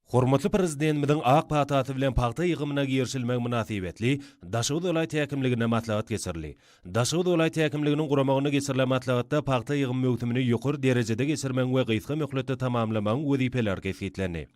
Hormatly Prezidentimiziň ak patasy bilen pagta ýygymyna girişilmegi mynasybetli Daşoguz welaýat häkimliginde maslahat geçirildi. Daşoguz welaýat häkimliginiň guramagynda geçirilen maslahatda pagta ýygym möwsümini ýokary derejede geçirmegiň we gysga möhletde tamamlamagyň wezipeleri kesgitlendi.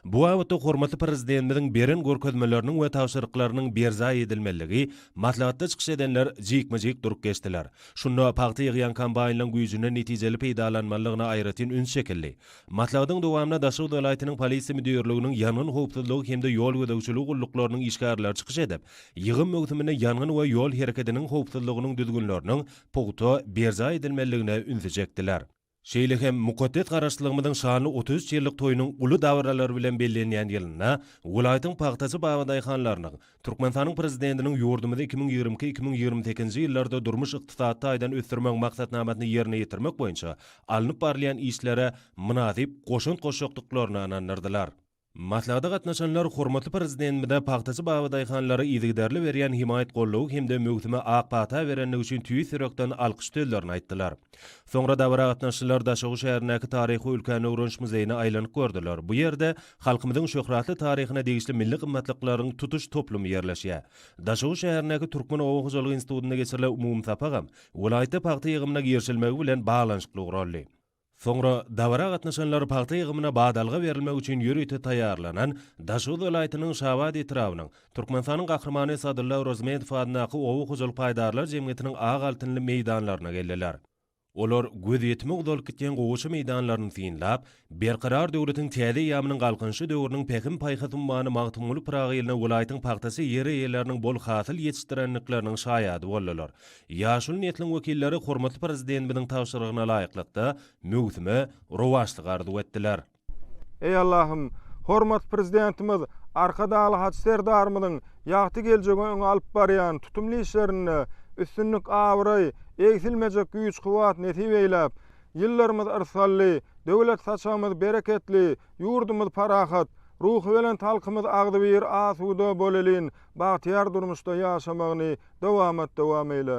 Bu babatda hormatly Prezidentimiziň beren görkezmeleriniň we tabşyryklarynyň berjaý edilmelidigi maslahatda çykyş edenler jikme-jik durup geçdiler. Şunda pagta ýygýan kombaýnlaryň güýjünden netijeli peýdalanmalydygyna aýratyn üns çekildi. Maslahatyň dowamynda Daşoguz welaýatynyň Polisiýa müdirliginiň ýangyn howpsuzlygy hem-de ýol gözegçiligi gulluklarynyň işgärleri çykyş edip, ýygym möwsüminde ýangyn we ýol hereketiniň howpsuzlygynyň düzgünleriniň pugta berjaý edilmeliligine ünsi çekdiler. Şeýle hem mukaddes Garaşsyzlygymyzyň şanly otuz üç ýyllyk toýunyň uly dabaralary bilen bellenýän ýylynda welaýatyň pagtaçy babadaýhanlarynyň, Türkmenistanyň Prezidentiniň ýurdumyzy iki müň ýigrimi iki-iki müň ýigrimi sekizinji ýyllarda durmuş-ykdysady taýdan ösdürmegiň maksatnamasyny ýerine ýetirmek boýunça alnyp barylýan işlere mynasyp goşant goşjakdyklaryna ynandyrdylar. Maslahata gatnaşanlar hormatly Prezidentimize pagtaçy babadaýhanlara yzygiderli berýän hemaýat-goldawy hem-de möwsüme ak pagta berendigi üçin tüýs ýürekden alkyş sözlerini aýtdylar. Soňra dabara gatnaşyjylar Daşoguz şäherindäki taryhy-ülkäni öwreniş muzeýine aýlanyp gördüler, bu ýerde Halkymyzyň şöhratly taryhyna degişli milli gymmatlyklaryň tutuş toplumy ýerleşýär. Daşoguz şäherindäki Türkmen oba hojalygy institutynda geçirilen umumy sapagam welaýatda pagta ýygymyna girişilmegi bilen baglanyşykly guraldy. Soňra dabara gatnaşanlar pagta ýygymyna badalga berilmek üçin ýörite taýýarlanan Daşoguz welaýatynyň Şabat etrabynyň Türkmenistanyň Gahrymany Sadylla Orozmedow adyndaky oba hojalyk paýdarlar jemgyýetiniň ak altynly meýdanlaryna geldiler. Olar gözýetimi uzalyp gitýän gowaça meýdanlaryny synlap, Berkarar döwletiň täze eýýamynyň Galkynyşy döwrüniň Pähim-paýhas ummany Magtymguly Pyragy ýylyna welaýatyň pagtaçy ýer eýeleriniň bol hasyl ýetişdirendikleriniň şaýady boldular. Ýaşuly nesliň wekilleri hormatly Prezidentimiziň tabşyrygyna laýyklykda, möwsüme rowaçlyk arzuw etdiler. Eý Allahym, hormatly Prezidentimiz Arkadagly Hajy Serdarymyzyň ýagty geljegi öňe alyp barýan tutumly işlerinde üstünlik, abraý, egsilmejek güýç-kuwwat nesip eýläp, ýyllarymyz yrsally, döwlet saçagymyz bereketli, ýurdumyz parahat, ruhubelent halkymyz agzybir, asuda, bolelin, bagtyýar durmuşda ýaşamagyny dowamat dowam eýle.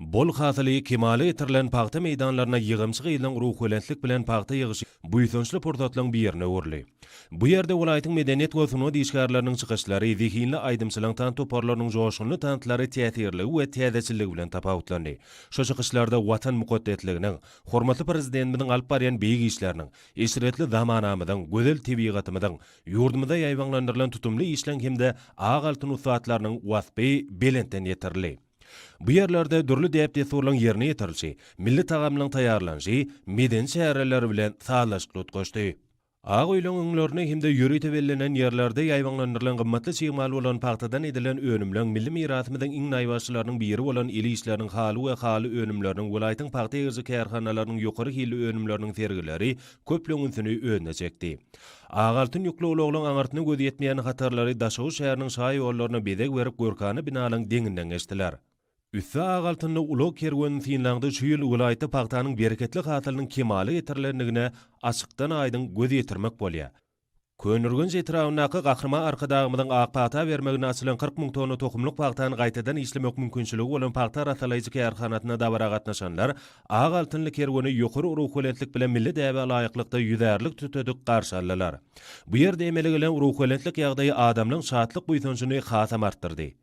Bol hasyly, kemala getirilen pagta meýdanlaryna ýygamçy gyzlaryň ruhubelentlik bilen pagta ýygyşy buýsançly pursatlaryň birine öwrüldi. Bu ýerde welaýatyň medeniýet we sungat işgärleriniň çykyşlary, zehinli aýdymçylaryň tans toparlarynyň joşgunly tanslary täsirligi we täzeçilligi bilen tapawutlandy. Şu çykyşlarda Watan mukaddesliginiň, hormatly Prezidentimiziň alyp barýan beýik işleriniň, eşretli zamanamyzyň, gözel tebigatymyzyň, Ýurdumyzda ýaýbaňlandyrylan tutumly işleň hem-de ak altyn ussatlarynyň waspy belentden ýetirildi. Bu ýerlerde dürli däp-dessurlaryň ýerine ýetirilişi, milli tagamlaryň taýýarlanyşy medeni çäreler bilen sazlaşykly utgaşdy. Ak öýleriň öňlerinde hem-de ýörite bellenen ýerlerde ýaýbaňlandyrylan gymmatly çig mal bolan pagtadan edilen önümleň milli mirasymyzyň iň naýbaşylarynyň biri bolan el işleriniň haly we haly önümleriniň, welaýatyň pagta egiriji kärhanalarynyň ýokary hilli önümleriniň sergileri köpleň ünsüni özüne çekdi. Ak altyn ýükli ulaglaň aňyrsyna gözi ýetmeýän hatarlary Daşoguz şäheriniň şaýollaryna bezeg berip görkana binalaň deňinden geçdiler. Üsti ak altynly ulag kerwenini synlaňda şu ýyl welaýatda pagtanyň bereketli hasylynyň kemala getirilendigine açykdan-aýdyň göz ýetirmek bolýar. Köneürgenç etrabyndaky Gahryman Arkadagymyzyň ak pagta bermegine açylan kyrk müň tonna tohumlyk pagtany gaýtadan işlemek mümkinçiligi bolan pagta arassalaýjy kärhanasyna dabara gatnaşanlar Ak altynly kerweni ýokary ruhubelentlik bilen milli däbe laýyklykda ýüzärlik tütedik garşy aldylar. Bu ýerde emele gelen ruhubelentlik ýagdaýy adamlaryň şatlyk-buýsanjyny hasam artdyrdy.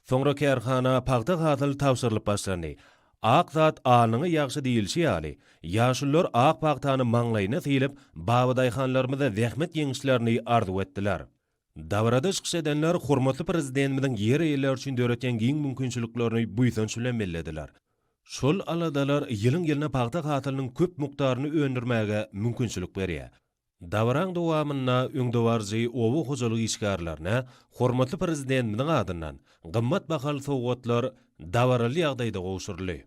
Soňra kärhana pagta-hasyl tabşyrylyp başlandy. Ak zat alnyňy ýagşy diýilşi ýaly, ýaşulular ak pagtany maňlaýyna sylyp, babadaýhanlarymyza zähmet ýeňişlerini arzuw etdiler. Dabarada çykyş edenler hormatly Prezidentimiziň ýer eýeleri üçin döretýän giň mümkinçiliklerini buýsanç bilen bellediler. Şol aladalar ýylyň-ýylyna pagta hasylynyň köp mukdaryny öndürmäge mümkinçilik berýär. Dabaranyň dowamynda öňdebaryjy oba hojalyk işgärlerine hormatly Prezidentimiziň adyndan gymmat bahaly sowgatlar dabaraly ýagdaýda gowşuryldy.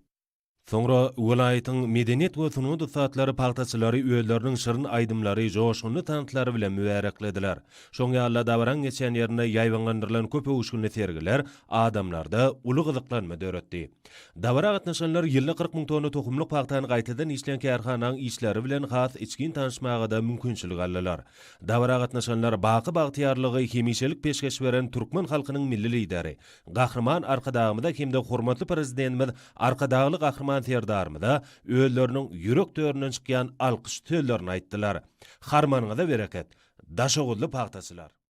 Soňra welaýatyň medeniýet we sungat ussatlary pagtaçylary özleriniň şirin aýdymlary, joşgunly tanslary bilen mübäreklediler. Şoň ýaly-da dabaraň geçen ýerinde ýaýbaňlandyrylan köp öwüşginli sergiler adamlarda uly gyzyklanma döretdi. Dabara gatnaşanlar ýylda kyrk müň tonna tohumlyk pagtany gaýtadan işleýän kärhananyň işleri bilen has içgin tanyşmaga-da mümkinçilik aldylar. Dabara gatnaşanlar baky bagtyýarlygy hemişelik peşgeş beren türkmen halkynyň Milli Lideri Gahryman Arkadagymyza hem-de hormatly Prezidentimiz Arkadagly Gahryman Serdarymyza özleriniň ýürek töründen çykýan alkyş sözlerini aýtdylar. Harmanyňyza bereket, daşoguzly pagtaçylar!